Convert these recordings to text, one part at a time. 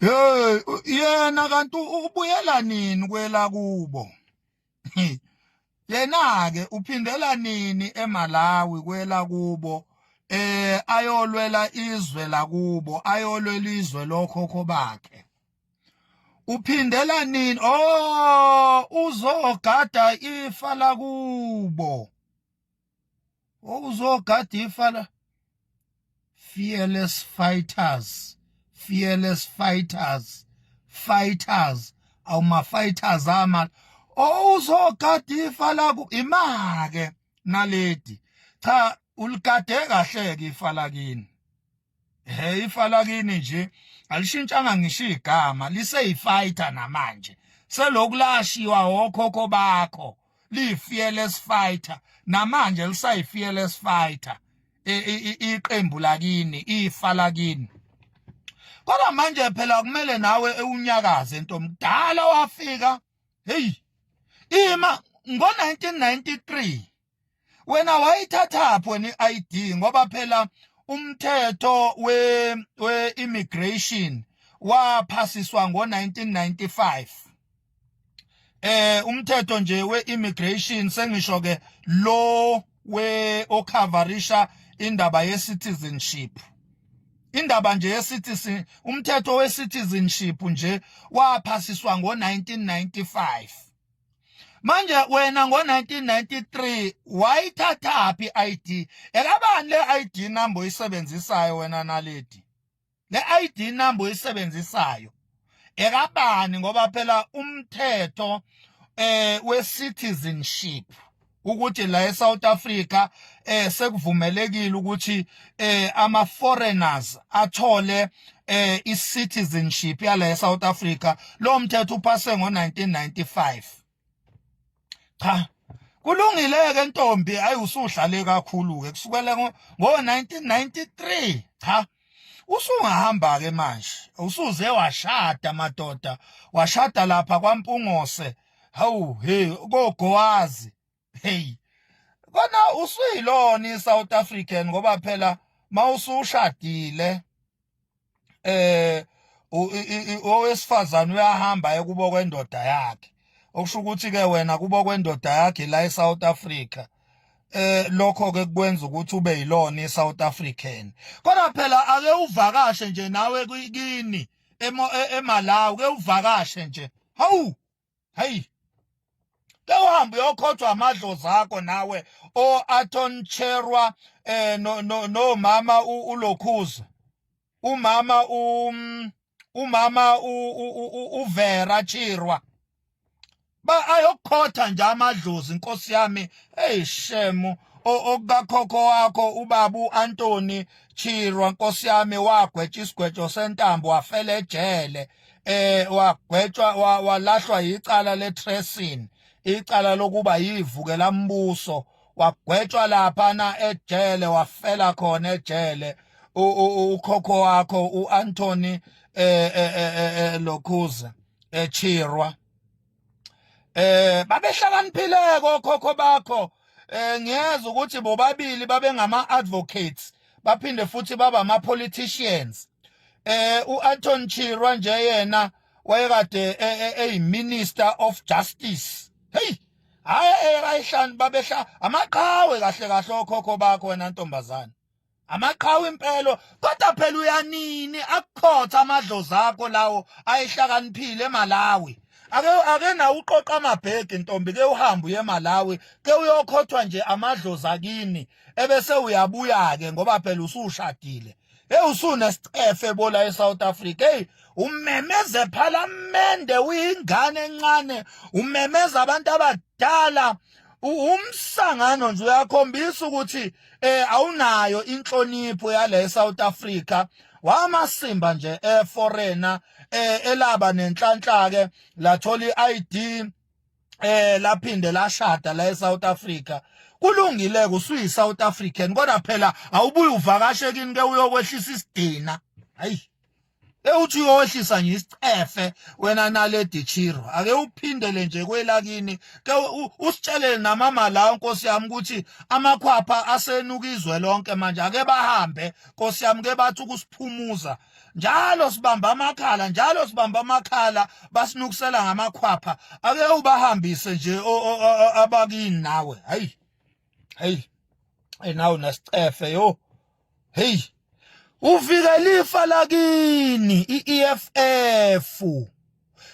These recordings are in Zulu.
Hey yena kanti ubuyela nini kwela kubo? Yena ke uphindela nini eMalawi kwela kubo? Eh ayolwela izwe lakubo, ayolwela izwe lokhokho bakhe. Uphindela nini? Oh uzogada ifa lakubo. wawuzogada ifa la fearless fighters fearless fighters fighters awuma fighters ama owuzogada ifa laku imake naledi cha uligade kahle ke ifa lakini hey ifa lakini nje alishintshanga ngisho igama liseyifighter namanje selokhu lashiwa okhokho bakho liyifearless fighter namanje lisayifearless fighter e, e, e, iqembu lakini ifa lakini kodwa manje phela kumele nawe ewunyakaze into mdala wafika hey ima ngo 1993 wena wayithathaphi wena i-ID ngoba phela umthetho we we immigration waphasiswa ngo-1995 eh umthetho nje we-immigration sengisho ke lo we okhavarisha indaba ye-citizenship indaba nje yesitisi umthetho wesitizenship nje waphasiswa ngo-1995 manje wena ngo-1993 wayithathaphi i-id ekabani le-id number oyisebenzisayo wena naledi le-id number oyisebenzisayo ekabani ngoba phela umthetho eh we-citizenship ukuthi la eSouth Africa eh sekuvumelekile ukuthi eh ama foreigners athole eh i citizenship yala eSouth Africa lo mthetho uphase ngo1995 cha kulungile ke ntombi ayi usuhlale kakhulu ke kusukela ngo 1993 cha usungahamba ke manje usuze washada madoda washada lapha kwampungose hawu hey kogowazi hey kona usuyilona iSouth African ngoba phela mawusushadile eh owesifazane uyahamba ekubo kwendoda yakhe okusho ukuthi ke wena kubo kwendoda yakhe la eSouth Africa eh lokho ke kwenza ukuthi ube yilona iSouth African kodwa phela ake uvakashe nje nawe kini e, eMalawi ke uvakashe nje hawu hey ke uhambe uyokhothwa amadlozi akho nawe o Aton Cherwa eh no no mama ulokhuza umama um umama uvera chirwa ba ayokhotha nje amadlozi inkosi yami hey shemu okukakhokho wakho ubabu Anthony Chirwa nkosi yami wagwetsha isigwejo sentambo wafela ejele eh wagwetshwa walahlwa yicala le tracing icala lokuba yivukela mbuso wagwetshwa lapha na ejele wafela khona ejele ukhokho wakho uAnthony eh, eh, eh, lokhuza echirwa eh babehlakaniphile kokhokho bakho eh ngiyeza ukuthi bobabili babengama advocates baphinde futhi baba ama politicians eh uAnton Chirwa nje yena wayekade eyiminister e, e, of justice hey hayi eyayihlani eh, babehla amaqhawe kahle kahle okhokho bakho wena ntombazana amaqhawe impelo kodwa phela uyanini akukhotha amadlozi akho lawo ayihlakaniphile eMalawi ake ake na uqoqa amabhege ntombi ke uhamba uye eMalawi ke uyokhothwa nje amadlozi akini ebese uyabuya ke ngoba phela usushadile Hey usuna sicefe bola eSouth Africa. Hey umemeza ephalamende uyingane encane, umemeza abantu abadala. Umsangano nje uyakhombisa ukuthi eh awunayo inhlonipho yale eSouth Africa. Wamasimba nje eforeigner eh elaba nenhlanhla ke lathola iID eh laphinde lashada la eSouth Africa kulungile kusuyi South African kodwa phela awubuye uvakashe kini ke uyokwehlisa isidina hayi ewuthi uyowehlisa nje isicefe wena naledi chiro ake uphindele nje kwelakini ke usitshelele namama la nkosi yami ukuthi amakhwapha asenuka izwe lonke manje ake bahambe nkosi yami ke bathi ukusiphumuza njalo sibamba amakhala njalo sibamba amakhala basinukusela ngamakhwapha ake ubahambise nje abakini nawe hayi hayi hey nawe nasicefe yo hey uvikela ifa lakini iEFF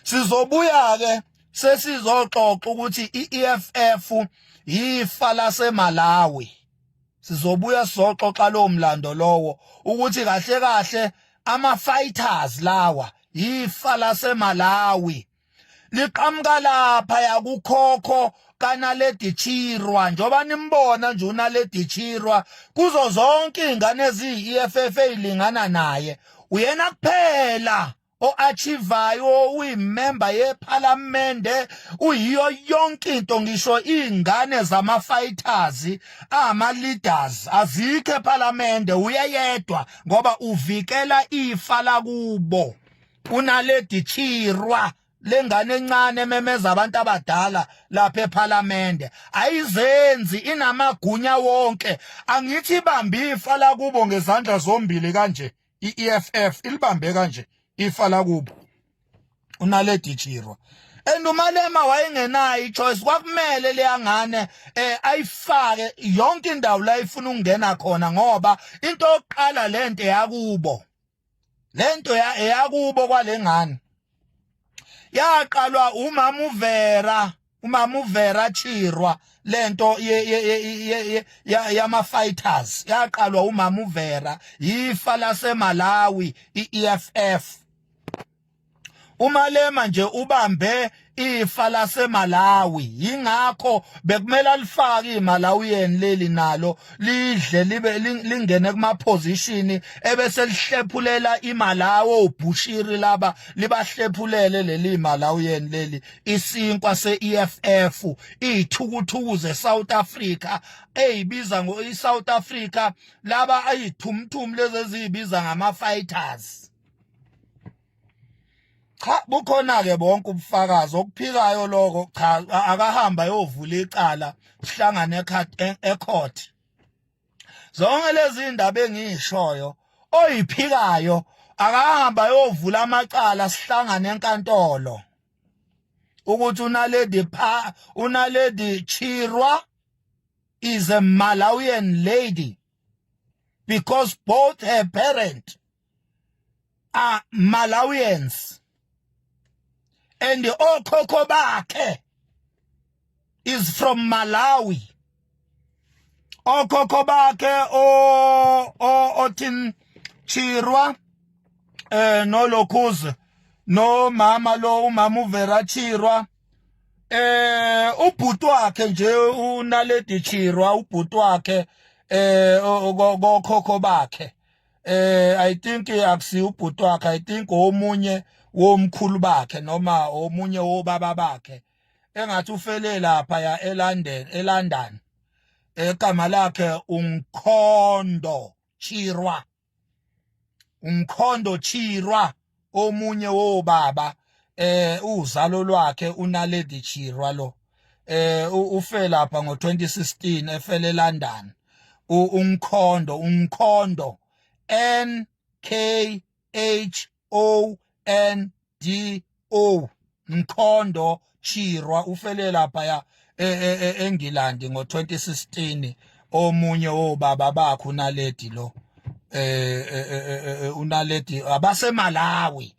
sizobuya ke sesizoxoxa ukuthi iEFF yifa laseMalawi sizobuya soxoxa lowo mlando lowo ukuthi kahle kahle ama fighters lawa yifa laseMalawi liqhamuka lapha yakukhokho kanaledi chirwa njoba nimbona nje unaledi chirwa kuzo zonke izingane eziyi-eff elingana naye uyena kuphela o-achivayo uyimemba yephalamende uyiyo yonke into ngisho iy'ngane zama-fighters angama-leaders azikho ephalamende uyeyedwa ngoba uvikela ifa lakubo unaledi chirwa lengane encane ememeza abantu abadala lapha ephalamende ayizenzi inamagunya wonke angithi ibambe ifa lakubo ngezandla zombili kanje i-EFF ilibambe kanje ifa lakubo unaledi chirwa and umalema wayengenayo ichoice kwakumele leyangane eh ayifake yonke indawo la ifuna ukungena khona ngoba into yokuqala lento yakubo lento yakubo kwalengane yaqalwa umama uvera umama uvera chirwa lento yama fighters yaqalwa umama uvera yifa lasemalawi i-eff umalema nje ubambe ifa lasemalawi yingakho bekumele alifake imalawiyeni leli nalo lidle libe lingene kuma position ebese lihlephulela imalawo ubhushiri laba libahlephulele leli malawiyeni leli isinkwa se-EFF iyithukuthuku ze-South Africa eyibiza ngo-i-South Africa laba ayithumthumi lezi eziyibiza ngama-fighters cha bukhona-ke bonke ubufakazi okuphikayo lokho cha akahamba yovula icala sihlangane ekhoti zonke lezi ndaba engishoyo oyiphikayo akahamba yovula amacala sihlangane enkantolo ukuthi unaledi pha unaledi chirwa is a malawian lady because both her parent are Malawians and okhokho bakhe is from Malawi okhokho bakhe o othin Chirwa eh no Lokhuze no mama lo umama uvera Chirwa eh ubhuti wakhe nje unaledi Chirwa ubhuti wakhe eh kokhokho bakhe eh i think akusi ubhuti wakhe i think omunye womkhulu bakhe noma omunye wobaba bakhe engathi ufele lapha ya eLondon eLondon egama lakhe uMkhondo Chirwa uMkhondo Chirwa omunye wobaba eh uzalo lwakhe unaledi chirwa lo eh ufe lapha ngo2016 efele eLondon umkhondo umkhondo N K H O N D O Mkhondo Chirwa ufele lapha ya e, e, e, eNgilandi ngo-2016 omunye wobaba bakhe unaledi lo eh unaledi abaseMalawi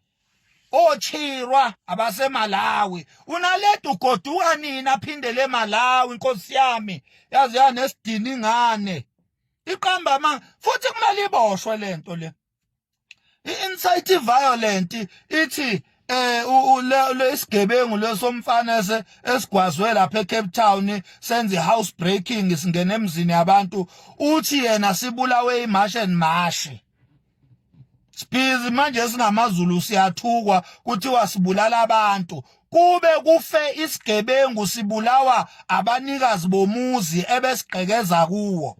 ochirwa abaseMalawi unaledi ugoduka nini aphindele eMalawi inkosi yami yazi yanesidini ingane iqamba ama futhi kumele iboshwe lento le i-insight violent ithi eh lesigebengu lesomfana ese esigwazwe lapha eCape Town senze house breaking singena emzini yabantu uthi yena sibulawe imash and mash Sibizi manje singamaZulu siyathukwa kuthiwa sibulala abantu kube kufe isigebengu sibulawa abanikazi bomuzi ebesigqekeza kuwo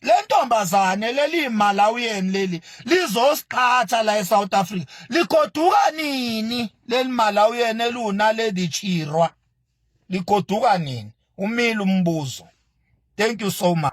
lentombazane leli Malawian leli lizosiqhatha la eSouth Africa ligoduka nini leli Malawian eluna lady chirwa ligoduka nini umile umbuzo thank you so much